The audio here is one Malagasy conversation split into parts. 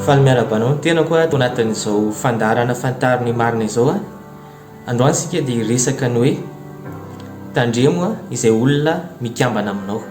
Faly miarahaba anao ny tenako ato anatin'izao fandaharana Fantaro ny marina izao a! Androany isika dia hiresaka ny hoe Tandremo izay olona mikambana aminao.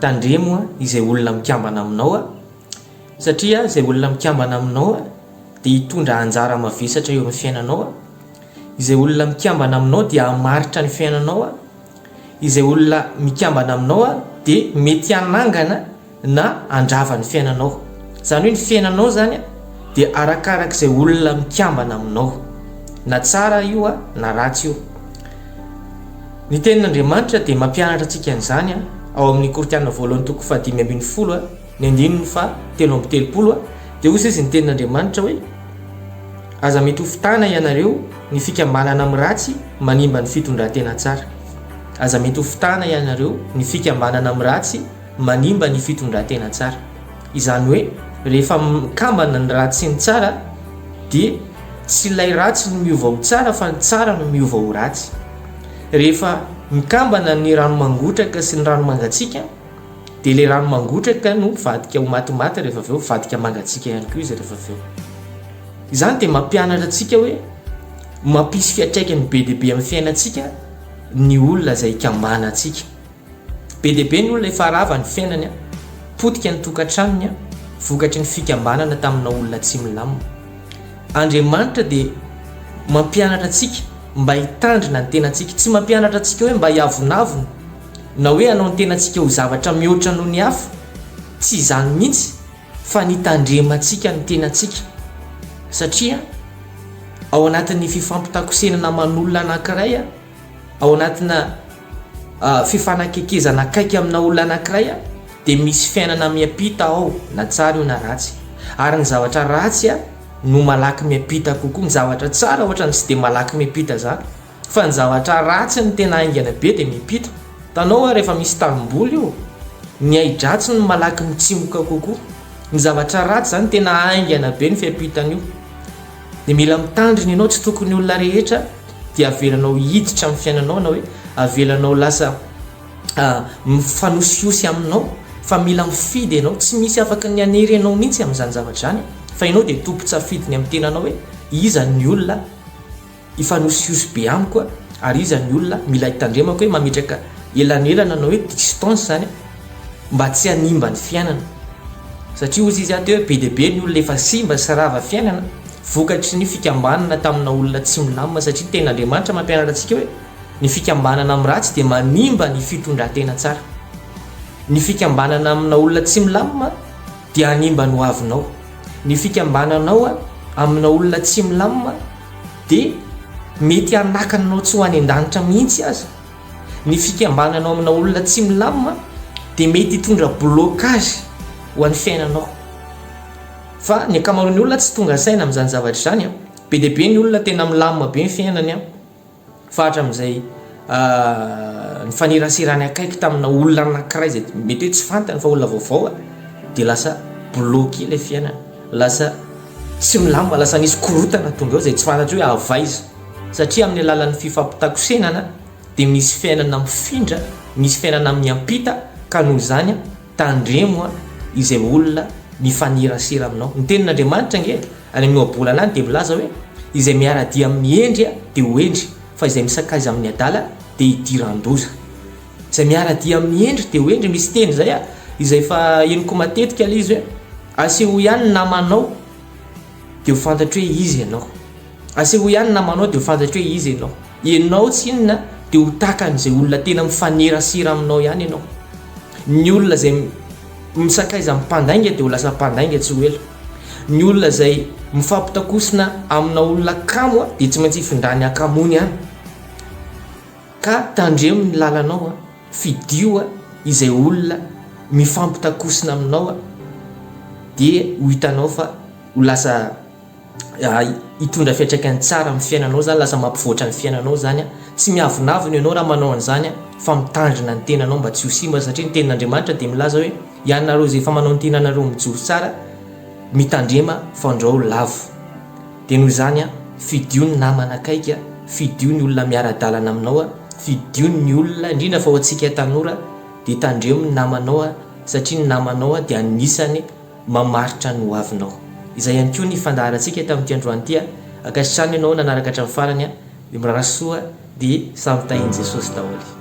Tandremo izay olona mikambana aminao a! Satria izay olona mikambana aminao dia hitondra anjara mavesatra eo amin'ny fiainanao a! Izay olona mikambana aminao dia hamaritra ny fiainanao a! Izay olona mikambana aminao dia mety hanangana na handrava ny fiainanao, izany hoe ny fiainanao izany dia arakaraka izay olona mikambana aminao, na tsara io na ratsy io. Ny tenin'Andriamanitra dia mampianatra antsika an'izany ao amin'ny Korintiana voalohany toko fahadimy ambin'ny folo ny andininy fahatelo amby telopolo dia hoy izy ny tenin'Andriamanitra hoe aza mitofo-tana ianareo ny fikambanana amin'ny ratsy manimba ny fitondran-tena tsara aza mitofo-tana ianareo ny fikambanana amin'ny ratsy manimba ny fitondran-tena tsara. Izany hoe rehefa mikambana ny ratsy sy ny tsara dia tsy ilay ratsy no miova ho tsara fa ny tsara no miova ho ratsy. Rehefa mikambana ny rano mangotraka sy ny rano mangatsiaka dia ilay rano mangotraka no mivadika ho matimaty rehefa avy eo, mivadika mangatsiaka ihany koa izy rehefa avy eo. Izany dia mampianatra antsika hoe mampisy fiantraikany be dia be amin'ny fiainantsika ny olona izay ikambanantsika. Be dia be ny olona efa rava ny fiainany, potika ny tokantranony vokatry ny fikambanana tamina olona tsy milamina. Andriamanitra dia mampianatra antsika mba hitandrina ny tenantsika. Tsy mampianatra antsika hoe mba hiavonavona na hoe hanao ny tenantsika ho zavatra mihoatra noho ny hafa. Tsy izany mihitsy fa ny hitandremantsika ny tenantsika satria ao anatin'ny fifampitakosenana aman'olona anankiray. Ao anatina fifanakaikezana akaiky amina olona anankiray dia misy fiainana miampita ao, na tsara io na ratsy. Ary ny zavatra ratsy no malaky miampita kokoa, ny zavatra tsara ohatrany tsy dia malaky miampita izany fa ny zavatra ratsy no tena haingana be dia miampita. Hitanao ary efa misy tanimboly io, ny ahi-dratsy no malaky mitsimoka kokoa, ny zavatra ratsy izany tena haingana be ny fiampitan'io. Dia mila mitandrina ianao, tsy tokony olona rehetra dia avelanao hiditra amin'ny fiainanao na hoe avelanao lasa mifanosihosy aminao fa mila mifidy ianao, tsy misy afaka ny hanery anao mihitsy amin'izany zavatra izany fa ianao dia tompon-tsafidy ny amin'ny tenanao hoe iza ny olona hifanosihosy be amiko ary iza ny olona mila hitandremako hoe mametraka elanelana na hoe distance izany. mba tsy hanimba ny fiainana satria hozy izy aty hoe be dia be ny olona efa simba sy rava fiainana vokatry ny fikambanana tamina olona tsy milamina satria ny tenin'Andriamanitra mampianatra antsika hoe ny fikambanana amin'ny ratsy dia manimba ny fitondran-tena tsara ny fikambanana amina olona tsy milamina dia hanimba ny hoavinao ny fikambananao amina olona tsy milamina dia mety hanakana anao tsy ho any an-danitra mihitsy aza Ny fikambananao amina olona tsy milamina dia mety hitondra blocage ho an'ny fiainanao. Fa ny ankamaroan'ny olona tsy tonga saina amin'izany zavatra izany. Be dia be ny olona tena milamina be ny fiainany fa hatramin'izay nifaneraserany akaiky tamina olona anankiray izay mety hoe tsy fantany fa olona vaovao dia lasa bloqué ilay fiainany, lasa tsy milamina, lasa nisy korontana tonga eo izay tsy fantatry hoe avy aiza. Satria amin'ny alalan'ny fifampitakosehana dia misy fiainana mifindra, misy fiainana miampita ka noho izany tandremo izay olona mifanerasera aminao. Ny tenin'Andriamanitra ange any amin'ny ohabolana any dia milaza hoe, izay miara-dia amin'ny hendry dia ho hendry, fa izay misakaiza amin'ny adala dia hidiran-doza. Izay miara-dia amin'ny hendry dia ho hendry, misy teny izay izay efa henoko matetika ilay izy hoe, asehoy ihany ny namanao. dia ho fantatro hoe iza ianao. Asehoy ihany ny namanao dia ho fantatro hoe iza ianao. Ianao tsy inona dia ho tahakan'izay olona tena mifanerasera aminao ihany ianao. Ny olona izay misakaiza amin'ny mpandainga dia ho lasa mpandainga tsy ho ela. Ny olona izay mifampitakosina amina olona kamo dia tsy maintsy hifindrany hakamoany any. Ka tandremo ny lalanao a! Fidio izay olona mifampitakosina aminao dia ho hitanao fa ho lasa hitondra fiantraikany tsara amin'ny fiainanao izany, lasa mampivoatra ny fiainanao izany. Tsy miavonavona ianao raha manao an'izany fa mitandrina ny tenanao mba tsy ho simba satria ny tenin'Andriamanitra dia milaza hoe, ianareo izay efa manao ny tenanareo mijoro tsara, mitandrema fandrao lavo. Dia noho izany a, fidio ny namana akaiky a, fidio ny olona miara-dalana aminao a, fidio ny olona, indrindra fa ho antsika tanora dia tandremo ny namanao a, satria ny namanao a dia anisany mamaritra ny hoavinao. Izay ihany koa ny fandaharantsika tamin'ity androany ity a, ankasitrano ianao nanaraka hatramin'ny farany a, dia mirary soa dia samy tahin'i Jesosy daholo.